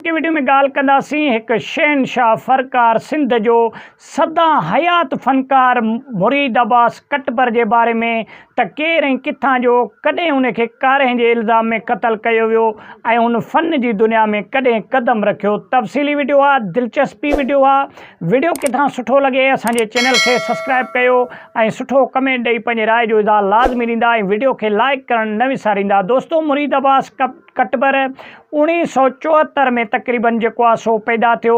اڳتي وڊيو ۾ ڳالهه ڪنداسين هڪ شهنشاهه فرڪار سنڌ جو سدا حيات فنڪار مريد عباس ڪٽپر جي باري ۾ ته ڪير ۽ ڪٿان جو ڪڏهن ان کي ڪارهين جي الزام ۾ قتل ڪيو ويو ۽ هن فن جي دنيا ۾ ڪڏهن قدم رکيو تفصيلي وڊيو آ دلچسپي وڊيو آ وڊيو ڪٿان سٺو لڳي اسان جي چينل کي سسڪرائب ڪيو ۽ سٺو ڪمينٽ ڏئي پنهنجي راء جو اظهار لازمي ڏيندا ۽ وڊيو کي لائيڪ ڪرڻ نه وساريندا دوستو مريد عباس ڪٽٻر اوڻيهه سؤ چوهتر ۾ تقريبن جيڪو آهي سو پيدا ٿيو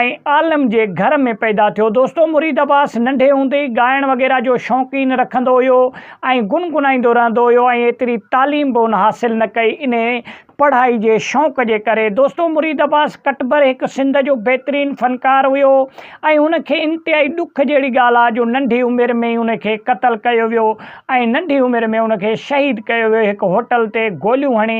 ۽ عالم جي گهر ۾ پيدا ٿيو دوستو مريد عباس ننڍي هوندي ئي ڳائڻ وغيره جو شوقين رکندو هيو ۽ گنگنائيندو رهندو هيو ۽ ايتري تعليم به ان حاصل نه ڪئي انهي پڙهائي جي شوق جي ڪري دوستو مريد عباس ڪٽٻر هڪ سنڌ جو بهترين فنڪار هيو ۽ هن کي انتهائي ڏک جهڙي ڳالهه آهي جو ننڍي عمر ۾ ئي هن کي قتل ڪيو ويو ۽ ننڍي عمر ۾ ان کي شهيد ڪيو ويو هڪ هوٽل تي گوليون هڻي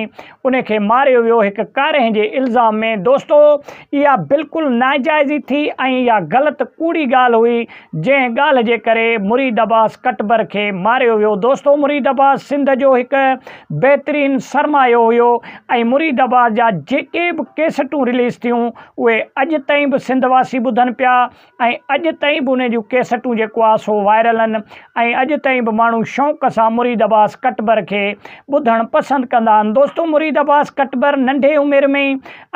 ان کي ماريو ويو هڪ ڪارنهن جي الزام ۾ دوستو اها بلڪل ناجائزي ٿي ۽ اها غلط ڪوڙي ڳالهه هئي جنهن ڳالهه جي ڪري مريد عباس ڪٽبر کي ماريو ويو دوستو مريد عباس سنڌ جو هڪ بهترين سرمايو هيو ۽ مريد عباس جا جيڪي به ڪيسٽون رليز ٿيون اهي اڄ تائين به سنڌ واسي ٻڌن پيا ۽ اڄ تائين به انهن جون ڪيسٽون جيڪو آهي سو وائرل آهن ۽ اڄ تائين به ماڻهو شوق سان مريد عباس ڪٽبر کي ٻڌڻ پسند ڪندا آهن دوستو مريد عباس ڪٽبر ننڍي عمر ۾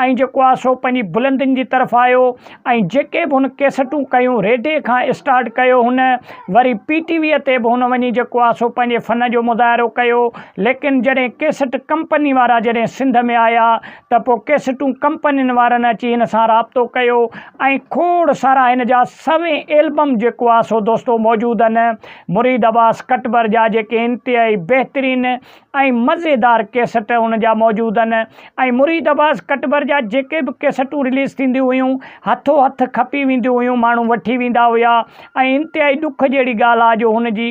۽ جيڪو آهي سو پنهنجي بلندين جي طرف آيو ۽ جيڪي به هن ڪيسٽون ڪيون ريڊي کان اسٽارٽ ڪيو هن وري پي ٽي ويء تي به هن وڃي جيڪو آهي سو پنهنجي فن جو مظاهرو ڪيو ليڪن جڏهن ڪيسٽ ڪمپني وارا جڏهن سنڌ ۾ آيا ته پوء ڪيسٽون ڪمپنين وارن اچي هن سان رابطو ڪيو ۽ کوڙ سارا هن جا سوين البم جيڪو آ سو دوستو موجود ان مريد عباس ڪٽبر جا جيڪي انتهائي بهترين ۽ مزيدار ڪيسٽ ان جا موجود ان ۽ مريد عباس ڪٽبر جا جيڪي به ڪيسٽون رليز ٿينديون هيون هٿو هٿ کپي وينديون هيون ماڻهو وٺي ويندا هيا ۽ انتهائي ڏک جهڙي ڳالهه آ جو هن جي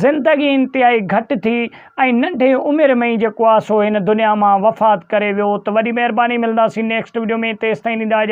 زندگي انتهائي گهٽ ٿي ۽ ننڍي عمر ۾ ئي جيڪو آ سو هن دنيا مان وفات ڪري ويو ته وڏي مهرباني ملنداسين نيڪسٽ وڊيو ۾ تيستائين ڏيندا اجازت.